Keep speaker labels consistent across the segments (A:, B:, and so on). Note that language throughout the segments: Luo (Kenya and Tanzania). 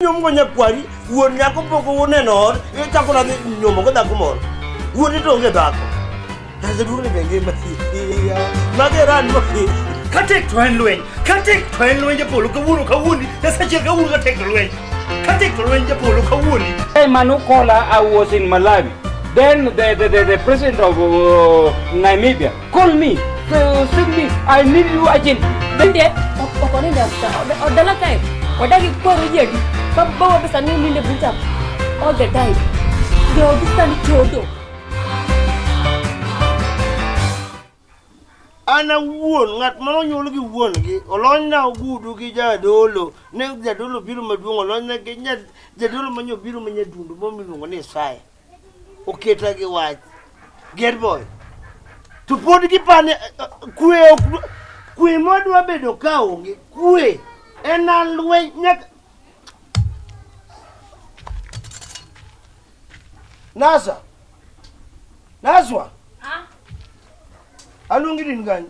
A: nyom go nyakwari wuon nyako pok uneno ot ichako nadhi nyomo go dhako moro wuon ito onge dhako aseduong' ni benge masiya mageran katek to en
B: lweny katek to en lweny japolo kawuono kawuoni nasachiel kawuono katek to lweny katek to lweny japolo kawuoni hey, manu kola
C: i was in malawi then the, the, the, the president of uh, namibia Call me. So, send me. I need you again. Bende,
D: ọkọ ní ìdàgbà ọ̀dọ́lá time. Ọ̀dá kí kó ọ̀rọ̀ yẹ̀ rí. Bàbá wa bẹ̀sà ní ilé ilé bùtà. All the time. Ṣé o bí sani kí o dò?
A: ana wuon ng'at ma nonyuol gi wuon gi olonyna ogudu gi jadolo ne jadolo biro maduong' olonyna gi jadolo ma nyobiro ma nyadundo momiluongo ni isaya Oketa gi wach. Get boy. To pod gipane kwe ok kwe modwa bedo ka onge kwe en alweny nyaka Nasa. Naswa. Ha? Aluongi din kanyo.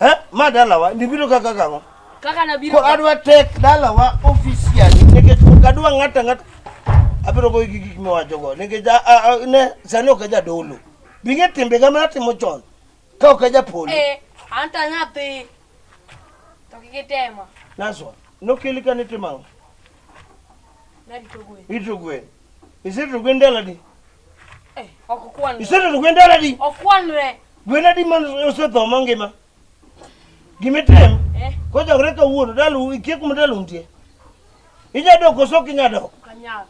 A: Eh, ma dalawa ndibiro kaka kang'o? Kaka nabiro. Ko adwa
D: tek
A: dalawa official nikech ok adwa ng'ata ng'ata. Abiro goyo gi gik miwacho go nikech ne sani ok ajadolo. Bing'e timbe ga mana timo chon. Ka ok ajapolo. Eh, anta nyathi.
D: To kik itema. Naswa,
A: nokeli ka nitimo ang'o? Narito
D: gwen. Ito
A: gwen. Iserito gwen daladi?
D: Eh, ok kwan. Isetedo gwen dala
A: di? Ok kwanre. Gwen
D: adi man
A: osetho mangima? Gimitem? Eh. Kojogre kawuono dalu ikie kuma dalu nitie. Inya dok koso ok inya dok? Ok anyal.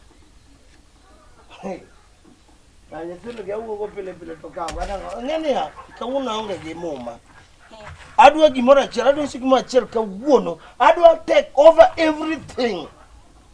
A: Na nyithindo gi awuogo pile pile to kawo anang'o? Ng'e niya, kawuono aonge gi muma. Adwa gimoro achiel, adwa usi gimoro achiel kawuono. Adwa take over everything.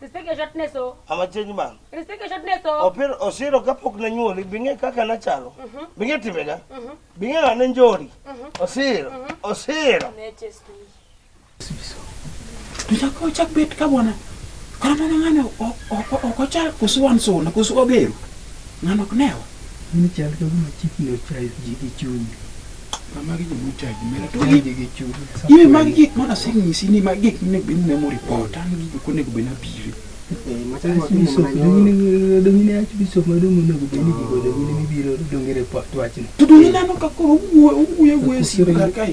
D: Respect
A: your shortness
D: o. I'm a change man. Respect
A: your shortness o.
D: Opiro osiro kapok
A: nanyuoli bing'e kaka nachalo. Mhm. Bing'e timbega. Mhm. Bing'e ng'ane njori. Mhm. Osiro. Osiro.
B: Tuchako chak bet ka bwana. Kora mama ng'ano ok ochal kusu wan sona kusu obero. Ng'ano ok newa. Mimi chal ka
E: gima chikni ochal ji gi chunyi. Magi
B: joma ochaji mera to gin gi chuny. Iwe magi gik mana asenyisi ni magi gik monego
E: bed ni nemo report an gi gik monego bed ni apire. To donge ineno ka koro
B: owuoyo owuoyo e sim kar kae.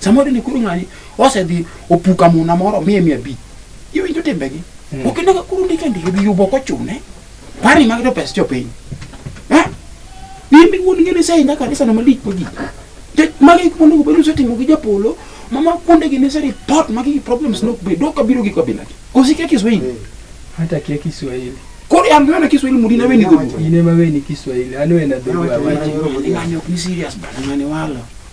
B: Samoro ni kuru ng'ani osedhi opuka muna moro miye mia abich. Iwinjo timbegi. Mm. Ok inega kuru ndiko ndiko gi yubo kochune. Pari mag jopes jopiny. Eh? In bi wuon ngene sai nyaka kanisa no malik magi. Te magi kuonde go bedo setimo gi japolo. Mama kuonde gi ne seri pot magi problems no be doka biro gi kabila. Kosike kiswahili. Mm. Hata kia
E: Kiswahili. Kori an ngana
B: kiswahili mudi na weni go. Ine ma weni Kiswahili.
E: Ano ena dhulu awaji. Ngani ok ni serious
B: bana ngani wala.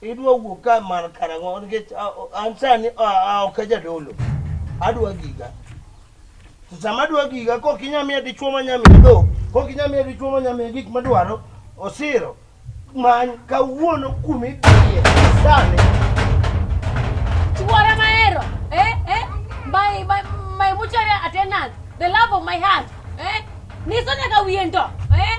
A: Idwa wuok ka mar karang'o nikech an sani ok ajadolo. Adwa giga. To sama adwa giga kok inya miya dichwo ma nya miya dhok, kok inya miya dichwo ma nya miya gik madwaro, osiro. Many kawuono kuma idhiye sani. Chuora
D: mahero, eh, eh, my, my, my mutual attendant, the love of my heart, eh, niso nyaka wiye ndo, eh,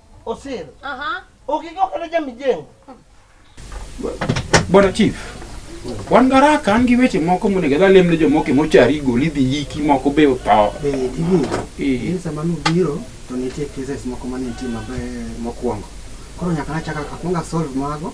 D: Osir.
A: Aha. Ukijua
D: kwenda jamii
A: jengo.
B: Bwana Chief, wan garaka an gi weche moko monego adhi alemne jomoko e mochari gol idhi yiki moko be otho. Be tini,
E: Eh. in sama nubiro to nitie cases moko mane nitie maber mokwongo. Koro nyaka nachaka akwonga solve mago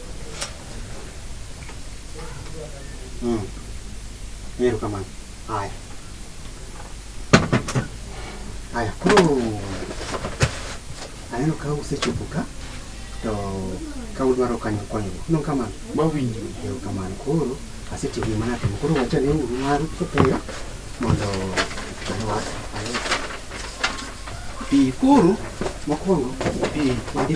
E: Mm. Nero kama. Haya. Haya. Aneno ka usechopo ka to ka udwaro kanyo konyruok. No kama. Mawinjo. Nero
B: kama. Koro
E: asetiyo gi mana timo. Koro wacha ni uru maru kepeyo mondo anwas.
B: Pi koro mokwongo
E: pi wadhi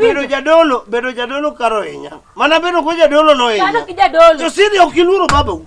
D: bedo jadolo
A: bedo jadolo karo hinya mana bedo ko jadolo no hinya josiri
D: ok iluoro
A: babau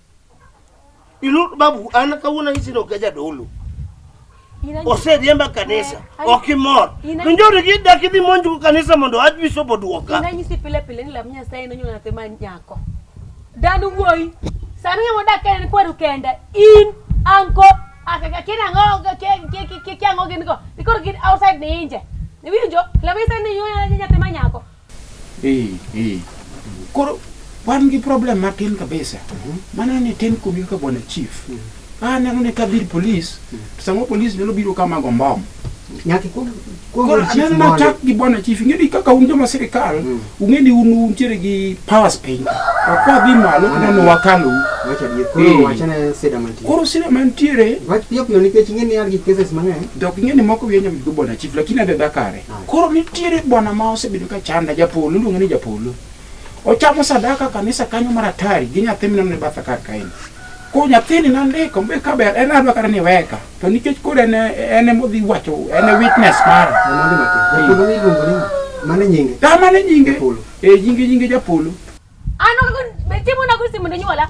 A: Ilu babu an kawuono isiro ka jadolo. Oseriemba kanisa, eh, ok imor. To njori gi dak idhi monj go kanisa mondo wach bishop oduoka. Ina nyisi pile pile ni
D: lam Nyasaye no nyona te man nyako. Dan wuoyi, sani ng'ama odak en kwaru kende, in anko akaka kin ang'o ki ki ang'o gin go. Ikoro gin outside ni inje. Iwinjo? Lam Nyasaye ni nyona nyathi ma nyako.
B: Koro wan gi problem matin kabisa. Mhm. Mano ni tin kubi ka bwana chief. Mhm. Ah, ne mune ka bir police. Mhm.
E: To
B: samo police nyalo biro kama go mbom. Nyaki ko ko chief ma chak gi bwana chief ngedi kaka un joma sirikal, ungeni un un chere gi power spend. Akwa bi malo kana no wakalu. Wacha di ko eh.
E: wacha na seda mantiere. Koro seda mantiere.
B: Wacha pio pio nikech
E: ngeni yar gi cases mang'eny. Dok ngeni moko wienya
B: mi go bwana chief lakini adada kare. Koro nitiere bwana ma osebedo ka chanda japolo, iluonge ni japolo. Ochamo sadaka kanisa kanyo mar atari gi nyathi mineno ne batha kar kaeni. Ko nyathini nandiko mbe kaber en adwa kata ni weka to nikech koro en en ema odhi wacho en e witness mara. Mwandu matin. Japolo
E: ni iluongo ni ng'a? Mane nyinge? Dama ne nyinge Japolo.
B: eh nyinge nyinge japolo. An onego
D: be chiemo nago simu ne nyuola?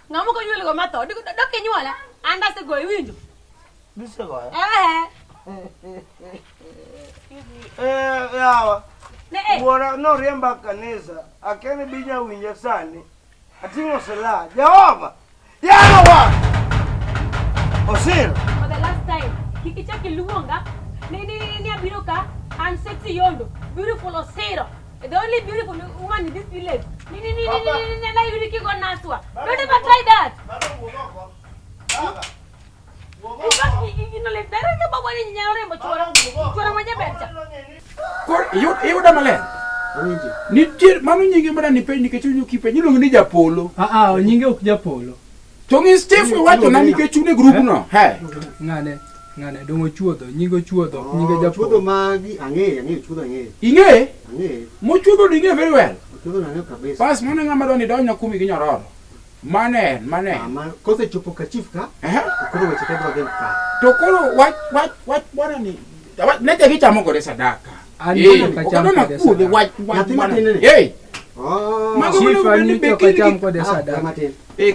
D: Ng'ama ok onyuol go matho, dok inyuola. An dase goyi winjo. Dise
A: goya? Eh. Eh, yawa. Ne eh. Wuora noriemba kanisa, akene binya winja sani. Ating'o silaha. Jehova! Yawa! Osir! For the last time,
D: kik ichak iluonga ni ni ni abiro ka an sexy yondo, beautiful Osiro. The only beautiful woman in this village. Ni ni ni
B: ni ni na yuri kigo naswa. Don't ever try that. Iyuda maler. Nitie mano nyinge mana ni piny nikech onyo kipe nyilongo ni japolo. Ah ah nyinge ok
F: japolo. To ngi Steve
B: wacho na nike chune group eh? no. He. Ngane.
F: Ngane dongo chuodho, nyingo chuodho, oh, nyingo japo. Chuodho magi ang'e, ang'e
E: chuodho ang'e. Ing'e? Ang'e.
B: Mo chuodho ni ing'e very well. Chuodho na ang'e kabisa.
E: Pas mane ng'ama doni donyo
B: kumi gi nyororo. Mane, mane. Ama ah, kose
E: chopo ka chief ka. Eh. Koro weche ka dwa ka. To koro wach
B: wach wach bwana ni. Wach ne te gichamo kore sadaka.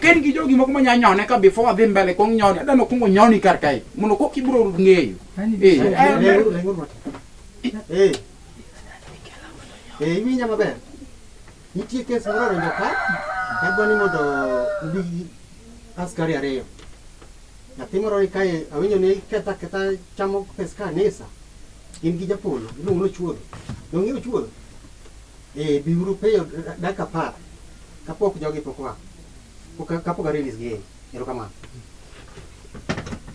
F: ken gi jogi
B: moko manya nyone ka before adhi mbele kong nyone adano kungo nyoni kar kae mondo kok ibro ng'eyo
E: iwinja maber nitie kes moro oringo ka adwani mondo ubi askari ariyo Nyathi moro ni kae awinjo ni ketha ketha chamo pes kanisa. In gi japolo, iluongo ni chuodho. Donge ochuodho? Eh, biuru piyo dakika apar kapok jogi pok wa. Pok kapok release gi. Erokamano.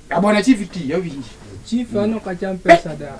B: Abona chief ti awinji. Chief ano kacham
F: pesa da.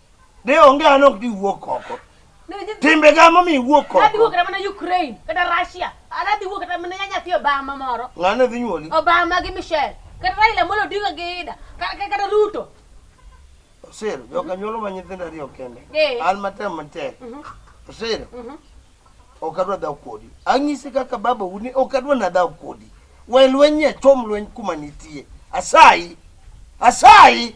A: De onge an ok diwuok oko. Timbe ga momi iwuok oko. Adhi wuok mana Ukraine
D: kata Russia. Adhi wuok kata mana nyathi Obama moro. Ng'ane dhi nyuoli?
A: Obama gi Michelle.
D: Kata Raila Amolo Odinga gi Ida. Kata Ruto.
A: Osir, joka nyuolo ma nyithindo ariyo kende. Eh. An matem matek. Mhm. Osir. Mhm. Ok adwa dhaw kodi. Ang'isi kaka baba uni ok adwa na dhaw kodi. We lweny nyachom lweny kuma nitie. Asayi. Asayi.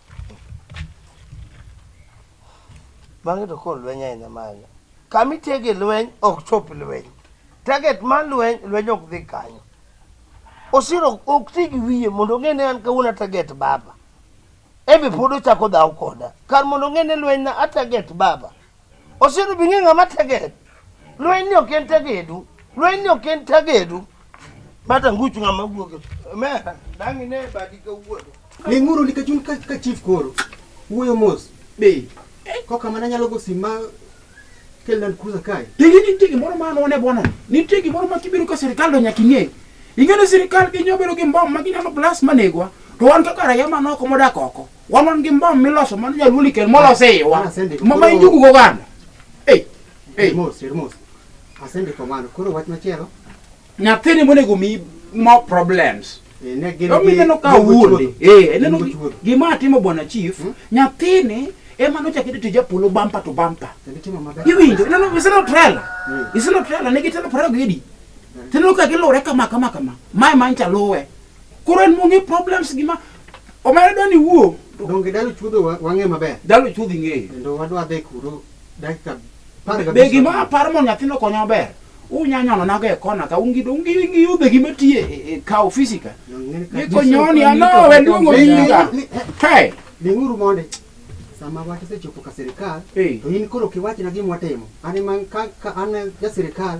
A: Bang'e to koro lweny ahinya manya. Kama itege lweny ok chop lweny. Target mar lweny, lweny ok dhi kanyo. Osiro ok ti gi wiye mondo ong'e ni an kawuono ataget baba. Embe pod ochako dhaw koda. Kar mondo ong'e ni lweny na ataget baba, Osiedu bi ng'e ng'ama teged. Lweny ni ok en tegedu. Lweny ni ok en tegedu. Bata nguchu ng'ama wuoge. Mera, dangi ne badi ka wuodo. Ling'uru nikech un
E: ka chief koro. Wuoyo mos. Be.
B: Koka mana nyalo
E: go sima kel land cruiser kae. Tigi nitie gimoro ma
B: anone bwana. Nitie gimoro ma kibiro ka sirkal do nyaka ing'e. Ing'e ni sirkal gi nyobedo gi mbom ma ginyalo blast manegwa. To wan kaka raia manoko modak oko. Wanon gi mbom miloso mano nyaluo likel molos e iwa. Asendiko. Ma ma injugu go ganda. Ei. Ei.
E: Mos, mos. Asendiko mano. Koro wach machielo. Nyathini
B: monego mi more problems. eh, Ne gin Omi gi-
E: neno ka gin gi wuonde.
B: chuodho. Eh, Gin neno gi gi- chuodho. gima atimo bwana chief, Hmm? nyathini ema nochako ito tij apolo bumper to bumper. Kendo timo maber. Iwinjo, no no, iseno trailer. Mm. Iseno trailer ne gitelo prego gidi. Tendo ka gilure kama kama kama. Mae mancha luwe. Koro en mong'e problems gima omera dwani wuo. Donge dalo chuodho
E: wang'e maber? Dalo chuodhi ng'eyo. Kendo
B: wadwa dhi kuro
E: dakika Be gima
B: aparo mondo nyathino konyo maber. Unya nyono nago e kona ka ungi do ungi ngi yudhe gima tiye e, e, e ka ofisi ka. Ni konyo ni ano we luongo ni ka. Hey. Linguru monde.
E: Sama wach sechopo ka sirkal to in koro kiwachna gima watimo. An man ka an ja sirkal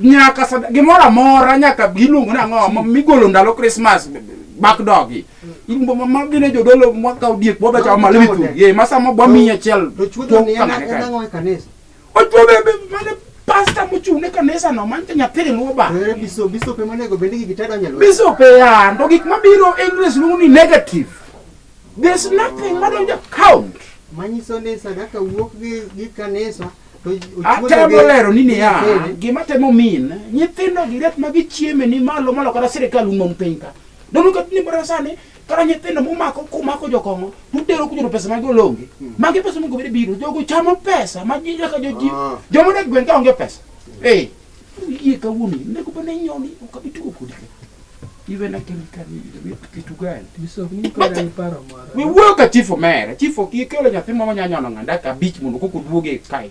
E: nyaka sada
B: gimoro amora nyaka giluongo nang'o ma- migolo ndalo krismas bakdogi magine jodolo mwakaw diek bwabe chawo malo mithu ye masama bwamiyi achiel To chuodho tong' ni en kamane en kae.
E: ang'o e kanisa? Ochuo be- be-
B: mane pasta mochung' ne kanisa no manyicha nyathi riluwo ba To ere biso biso pe monego
E: bende gi gitado nyalo. biso pe ya to
B: gik mabiro english luongo ni negative there's nothing madonjo count Manyiso ni
E: sadaka wuok gi gi kanisa Atemo
B: lero ni niya, gima temo min nyithindo gi ret ma gichieme ni malo malo kata sirkal umon piny ka. Dono ka ni bara sani kara nyithindo mumako kumako jokong'o tutero kunyoro pesa mag olonge. Hmm. Magi pesa mongobire biro, jogo chamo pesa ma ji nyaka joji. Ah. Jomone gweng' ka onge pesa. Eh. Yie kawuono nego bane nyoni ok abi tugo kodi. Iwe na kemi kani iwe kitu gani? Bishop ni kwa ni
F: paro mara. We wuoyo ka chief
B: omera. Chief ok ikelo nyathi moro nya nyono ng'anda ka bich mondo koko duoge kai.